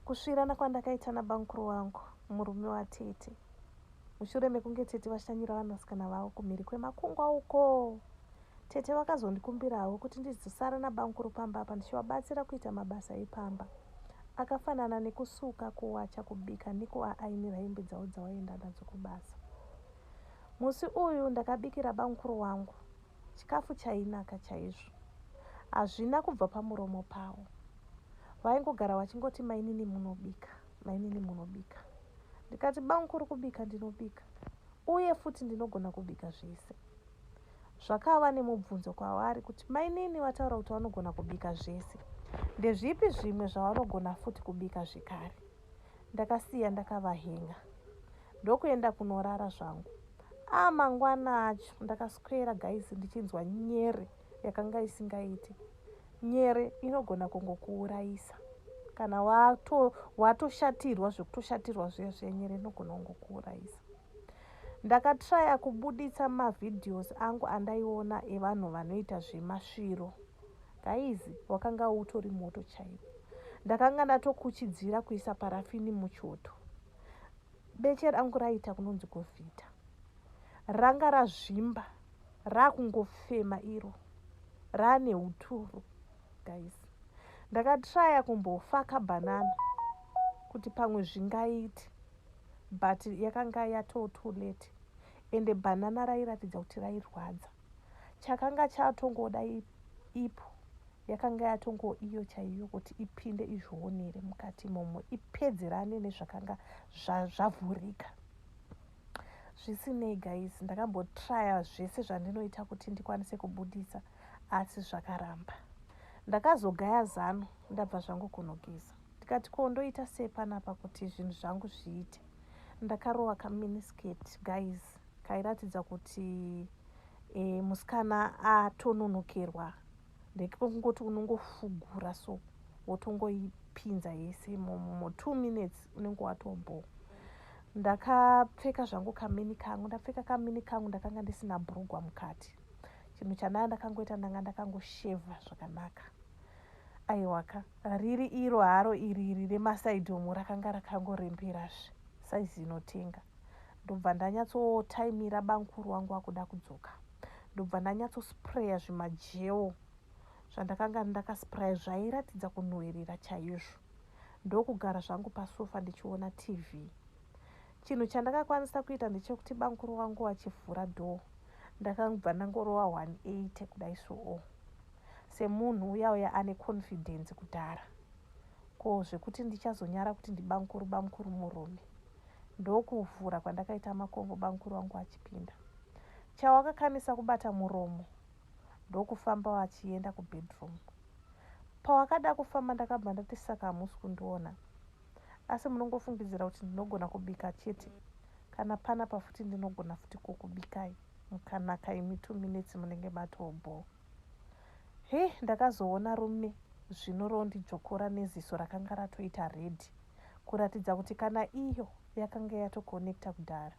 Kusvirana kwandakaita nabamukuru wangu, murume watete, mushure mekunge tete vashanyira vanasikana vavo kumhiri kwemakungwa uko, tete vakazondikumbirawo kuti ndizosara nabamukuru pamba apa ndichivabatsira kuita mabasa epamba akafanana nekusuka, kuwacha, kubika nekuaainira hembe dzavo dzavaienda nadzo kubasa. Musi uyu ndakabikira bamukuru wangu Chikafu chainaka chaizvo. Hazvina kubva pamuromo pawo. Vaingogara vachingoti mainini munobika, mainini munobika. Ndikati bamukuru kubika ndinobika uye futi ndinogona kubika zvese. Zvakava nemubvunzo kwavari kuti mainini vataura kuti vanogona kubika zvese. Ndezvipi zvimwe zvavanogona futi kubika zvekare? ndakasiya ndakavahenga ndokuenda kunorara zvangu a mangwana acho ndakaswera guys ndichinzwa nyere yakanga isingaiti nyere inogona kungokuurayisa kana watoshatirwa wato zvekutoshatirwa zviya zviya nyere inogona kungokuurayisa ndakatraya kubuditsa mavhidhios angu andaiona evanhu vanoita zvemasviro Guys wakanga utori moto chaiwo. Ndakanga ndatokuchidzira kuisa parafini muchoto. Beche rangu raita kunonzi govhita. Ranga razvimba rakungofema iro. Rane uturu guys. Ndakatraya kumbofaka banana kuti pamwe zvingaiti but yakanga yatoto late ende banana rairatidza kuti rairwadza. chakanga chatongoda ipo yakanga yatongo iyo chaiyo kuti ipinde izvionere mukati imomo ipedzerane nezvakanga zvavhurika zvisinei guys ndakambotraya zvese zvandinoita kuti ndikwanise kubudisa asi zvakaramba ndakazogaya zano ndabva zvangu kunogeza ndikati ko ndoita sei panapa kuti zvinhu zvangu zviite ndakarova kaminisketi guys Kairatidza kuti e, musikana atononokerwa ndekekungoti unongofugura so wotongoipinza yese imomo two minutes unenge watombo ndakapfeka zvangu kamini kangu ndapfeka kamini kangu ndakanga ndisina brugwa mukati chinhu chandaa ndakangoita ndanga ndakangoshevha zvakanaka aiwaka riri iro haro iriri remasaidhomu rakanga rakangoreberazve saizi inotenga Ndobva ndanyatsotaimira bamkuru wangu akuda kudzoka ndobva ndanyatsospray zvimajeo zvandakanga ndakaspray zvairatidza kunhuwirira chaizvo ndokugara zvangu pasofa ndichiona TV. Chinhu chandakakwanisa kuita ndechekuti bamkuru wangu achivhura door ndakangobva ndangorova 180 kudai soo semunhu uyauya ane confidence kudhara ko zvekuti ndichazonyara kuti ndibamkuru bamkuru murume ndokuvhura kwandakaita makongo bamukuru vangu achipinda. Chawa akakanisa kubata muromo ndokufamba vachienda kubedroom. Pawakada kufamba ndakabva ndati saka hamusi kundiona asi munongofungidzira kuti ndinogona kubika chete kana pana pafuti ndinogona futi kukubikai mukanaka imi two minutes munenge matobhoo Hey ndakazoona rume zvino rondijokora neziso rakanga ratoita red kuratidza kuti kana iyo yakanga yatoconnecta kudhara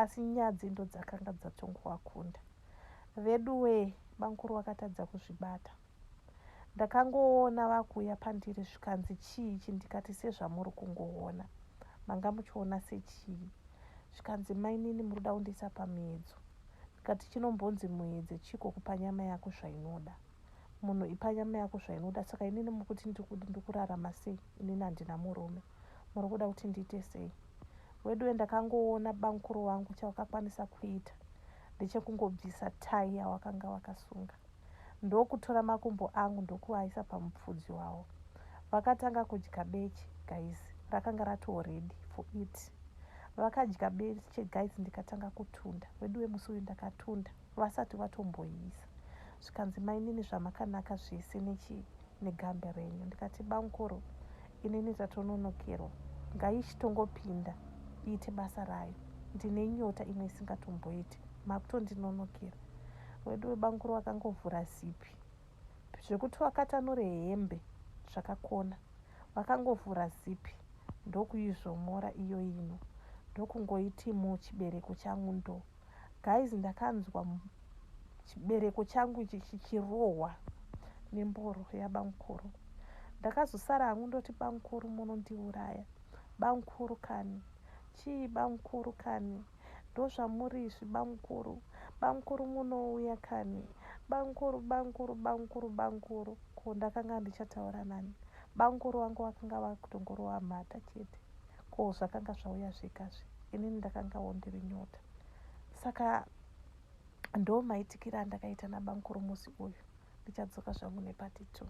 asi nyadzi ndodzakanga dzatongoakunda veduwee bamkuru vakatadza kuzvibata ndakangoona vakuuya pandiri zvikanzi chii chi ndikati sezvamuri kungoona manga muchiona sechii zvikanzi mainini muri kuda kundiisa pamiedzo Ndikati chinombonzi muedze chiko kupa nyama yako zvainoda. Munhu ipa nyama yako zvainoda saka inini mukuti ndikudi ndikurarama sei inini handina murume. Murikuda kuti ndiite sei. Weduwe ndakangoona bamkuru wangu chawakakwanisa kuita ndechekungobvisa tie yawakanga wakasunga ndokutora makumbo angu ndokuaisa pamupfudzi wawo. Vakatanga kudya beche guys rakanga ratoo ready for eat. Vakadya beans che guys ndikatanga kutunda veduwe musi uyu ndakatunda vasati vatomboiisa zvikanzi mainini zvamakanaka zvese nechi negambe renyu ndikati bamkuru inini tatononokerwa ngaichitongopinda iite basa rayo ndine nyota imwe isingatomboiti makutondinonokera weduwe bamkuru vakangovhura zipi zvekuti wakatanure hembe zvakakona vakangovhura zipi ndokuizvomora iyo ino ndokungoiti muu chibereko changu ndo guys ndakanzwa chibereko changu ichi chichirohwa nemboro yabamukuru ndakazosara hangu ndoti bamukuru munondiuraya bamukuru kani chii bamukuru kani Ndozvamuri izvi bamkuru bamkuru munouya kani bamkuru bamkuru bamkuru bamkuru ko ndakanga ndichataura nani bamkuru vangu vakanga vakutongorova mhata chete ko zvakanga zvauya zvega zve inini ndakangawo ndiri nyota saka ndo maitikira andakaita nabamkuru musi uyu ndichadzoka zvangu nepati two